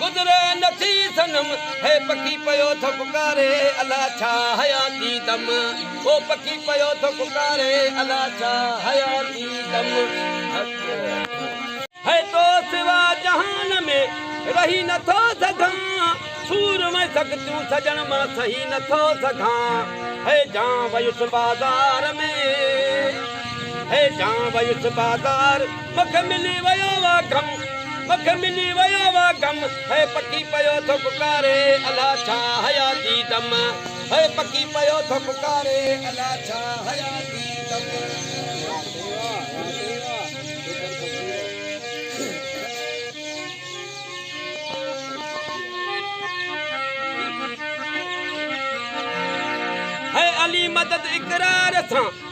گذري نه ٿي صنم هي پکي پيو ٿو پڪاري الا ڇا حياتي دم او پکي پيو ٿو پڪاري الا ڇا حياتي دم هي تو سوا جهان ۾ رهي نه ٿو سگهان سور ۾ سختيون سڄڻ مان سهي نه ٿو سگهان هي جان ويس بازار ۾ هي جان ويس بازار مک ملي ويو وا غم مک ملي ويو وا غم هي پکي پيو ٿو پڪاري الا ڇا حيا جي دم هي پکي پيو ٿو پڪاري الا ڇا حيا جي دم هي علي مدد اقرار سان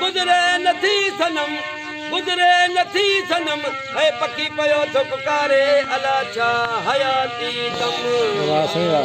گذري نه ٿي صنم گذري نه ٿي صنم هي پکي پيو ٿو پڪاري الا ڇا حياتي دم